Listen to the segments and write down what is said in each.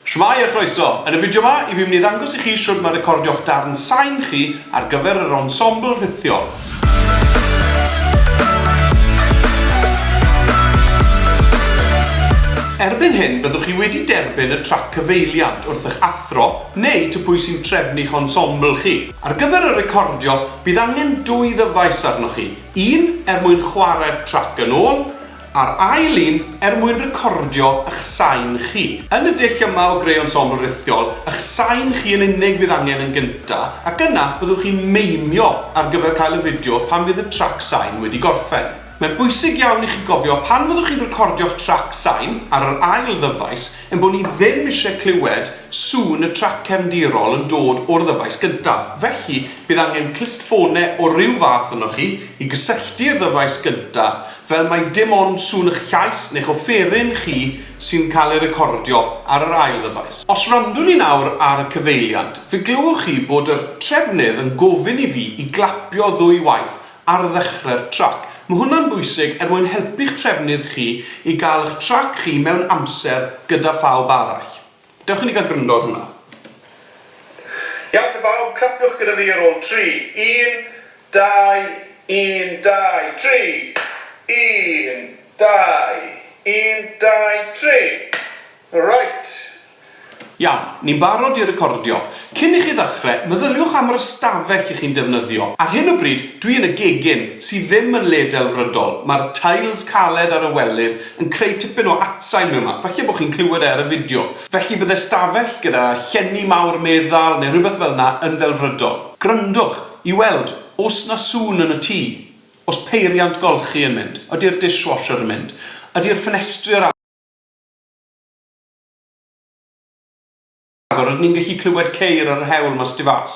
Shwmae a chroeso! Yn y fideo 'ma, i fi'n mynd i ddangos i chi shwd mae recordio'ch darn sain chi ar gyfer yr ensemble rhithiol. Erbyn hyn, byddwch chi wedi derbyn y trac cyfeiliant wrth eich athro neu to pwy sy'n trefnu eich ensemble chi. Ar gyfer y recordio, bydd angen dwy ddyfais arnoch chi, un er mwyn chwarae'r trac yn ôl, A'r ail un, er mwyn recordio ych sain chi. Yn y dull yma o greu ensemble rithiol, ych sain chi yn unig fydd angen yn gyntaf, ac yna byddwch chi'n meimio ar gyfer cael y fideo pan fydd y trac sain wedi gorffen. Mae'n bwysig iawn i chi gofio pan fyddwch chi'n recordio'ch trac sain ar yr ail ddyfais ein bod ni ddim eisiau clywed sŵn y trac cefndirol yn dod o'r ddyfais gyntaf, felly bydd angen clustffonau o ryw fath arnoch chi i gysylltu'r ddyfais gyntaf Fel mai dim ond sŵn y'ch llais neu'ch offeryn chi sy'n cael ei recordio ar yr ail ddyfais. Os wrandwn i nawr ar y cyfeiliant, fe glywch chi bod yr trefnydd yn gofyn i fi i glapio ddwy waith ar ddechre'r trac. Mae hwnna'n bwysig er mwyn helpu'ch trefnydd chi i gael y'ch trac chi mewn amser gyda phawb arall. Dewch i ni gael gwrando ar hwnna. Iawn te bawb, clapiwch gyda fi ar ôl tri. Un, dau, un, dau, tri! Un, dau, un, dau, tri! Reit! Iawn, ni'n barod i recordio. Cyn i chi ddechrau, meddyliwch am yr ystafell i chi'n defnyddio. Ar hyn o bryd, dwi yn y gegin, sydd ddim yn le delfrydol. Mae'r tiles caled ar y welydd yn creu tipyn o atsain mewn man, falle bod chi'n clywed e ar y fideo. Felly byddai stafell gyda llenni mawr meddal neu rhywbeth fel 'na yn ddelfrydol. Gwrandwch i weld os 'na sŵn yn y tŷ. Os peiriant golchi yn mynd? Ydi'r dishwasher yn mynd? Ydi'r ffenestri ar agor? Rhagor, rydyn ni'n gallu clywed ceir ar yr hewl mas tu fas.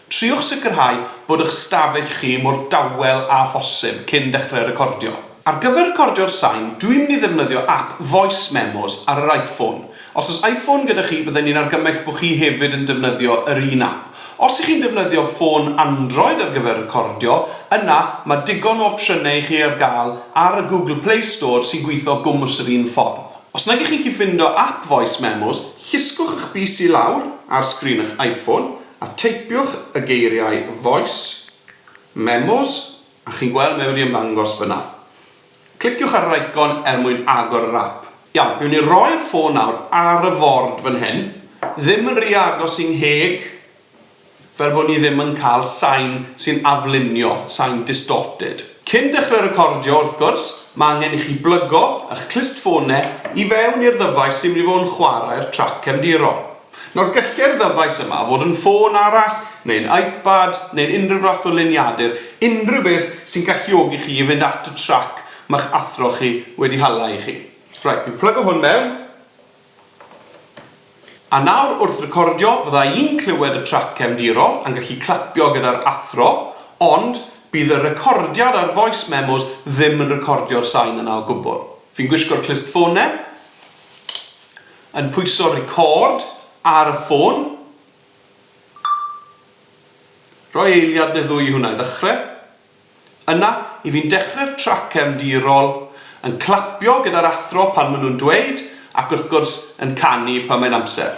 Triwch sicrhau bod eich stafell chi mor dawel â phosib cyn dechrau recordio. Ar gyfer recordio'r sain, dw i'n mynd i ddefnyddio ap Voice Memos ar yr Iphone. Os oes Iphone gyda chi, bydden ni'n argymell bod chi hefyd yn defnyddio yr un ap. Os y'ch chi'n defnyddio ffôn Android ar gyfer recordio, yna mae digon o opsiynau i chi ar gael ar y Google Play Store sy'n gweithio gwmws yr un ffordd. Os nag ych chi'n gallu ffindo ap Voice Memos, llusgwch eich bys i lawr ar sgrin eich iPhone a teipiwch y geiriau Voice Memos a chi'n gweld mae wedi ymddangos fyna. Cliciwch ar yr eicon er mwyn agor yr ap. Iawn, fi mynd i roi'r ffôn nawr ar y ford fan hyn, ddim yn ry agos i'n ngheg. fel bod ni ddim yn cael sain sy'n aflunio, sain distorted. Cyn dechrau recordio, wrth gwrs, mae angen i chi blygo eich clustffonau i fewn i'r ddyfais sy'n mynd i fod yn chwarae'r trac cefndirol. Nawr, gallai'r ddyfais yma fod yn ffôn arall, neu'n iPad, neu'n unrhyw fath o luniadur, unrhyw beth sy'n galluogi chi i fynd at y trac ma'ch athro chi wedi hala i chi. Reit, fi'n plygo hwn mewn. A nawr wrth recordio fydda i'n clywed y trac cefndirol a'n gallu clapio gyda'r athro, ond bydd y recordiad a'r voice memos ddim yn recordio'r sain yna o gwbl. Fi'n gwisgo'r clustfone, yn pwyso record ar y ffôn, rhoi eiliad neu ddwy i hwnna i ddechrau, Yna, i fi'n dechreu'r trac cefndirol, yn clapio gyda'r athro pan maen nhw'n dweud, ac wrth gwrs, yn canu pan mae'n amser.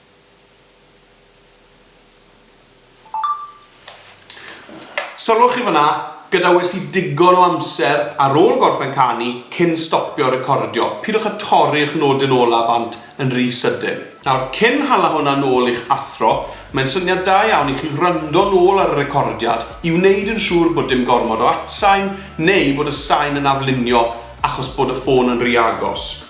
Sylwch chi fan'na, gadawais i digon o amser ar ôl gorffen canu cyn stopio recordio, pidwch â torri'ch nodyn ola bant yn rhy sydyn. Nawr, cyn hala hwnna nôl i'ch athro, mae'n syniad da iawn i chi wrando nôl ar y recordiad i wneud yn siŵr bod dim gormod o atsain neu bod y sain yn aflunio achos bod y ffôn yn rhy agos.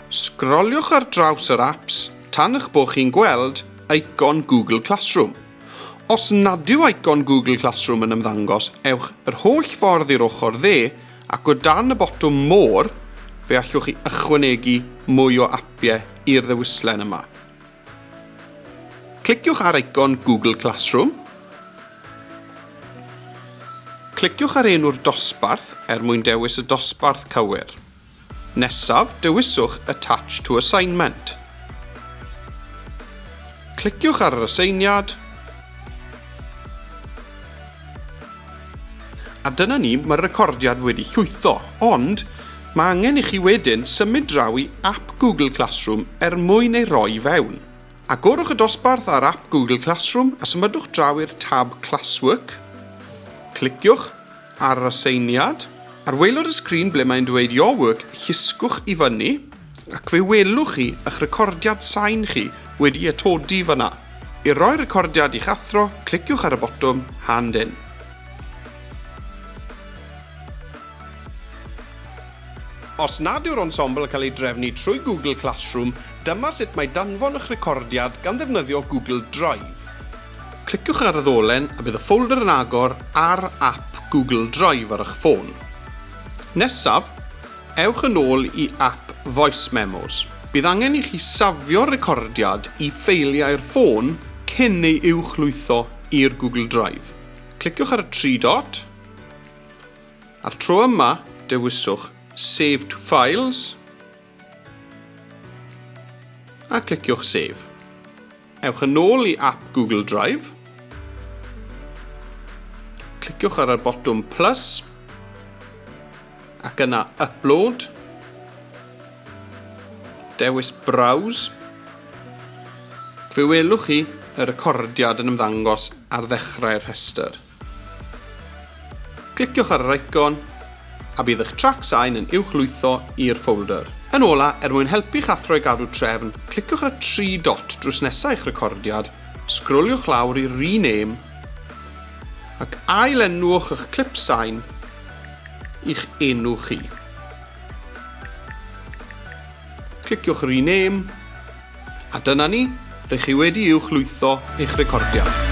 Sgroliwch ar draws yr apps tan eich bod chi'n gweld eicon Google Classroom. Os nad yw eicon Google Classroom yn ymddangos, ewch yr holl ffordd i'r ochr dde ac o dan y botwm More, fe allwch chi ychwanegu mwy o apiau i'r ddewislen yma. Cliciwch ar eicon Google Classroom. Cliciwch ar enw'r dosbarth er mwyn dewis y dosbarth cywir. Nesaf, dewiswch Attach to Assignment. Cliciwch ar yr aseiniad. A dyna ni, mae'r recordiad wedi llwytho, ond mae angen i chi wedyn symud draw i ap Google Classroom er mwyn ei roi i fewn. Agorwch y dosbarth ar ap Google Classroom a symudwch draw i'r tab Classwork. Cliciwch Ar yr aseiniad, ar waelod y sgrin ble mae'n dweud Your Work, llusgwch i fyny ac fe welwch chi eich recordiad sain chi wedi atodi fan'na. I roi'r recordiad i'ch athro, cliciwch ar y botwm Hand In. Os nad yw'r ensemble yn cael ei drefnu trwy Google Classroom, dyma sut mae danfon eich recordiad gan ddefnyddio Google Drive. Cliciwch ar y ddolen a bydd y ffolder yn agor ar ap Google Drive ar eich ffôn. Nesaf, ewch yn ôl i ap Voice Memos. Bydd angen i chi safio'r recordiad i ffeiliau'r ffôn cyn ei uwchlwytho i'r Google Drive. Cliciwch ar y tri dot. A'r tro yma, dewiswch Save to Files a cliciwch Save. Ewch yn ôl i ap Google Drive. Cliciwch ar y botwm plus ac yna upload. Dewis browse. Fe welwch chi y recordiad yn ymddangos ar ddechrau'r rhestr. Cliciwch ar yr eicon a bydd eich trac sain yn uwchlwytho i'r ffolder. Yn ola, er mwyn helpu'ch athro i gadw trefn, cliciwch ar y tri dot drws nesa eich recordiad, sgroliwch lawr i Rename ac ail-enwwch eich clip sain i'ch enw chi. Cliciwch Rename A dyna ni, rych chi wedi uwch lwytho eich recordiad.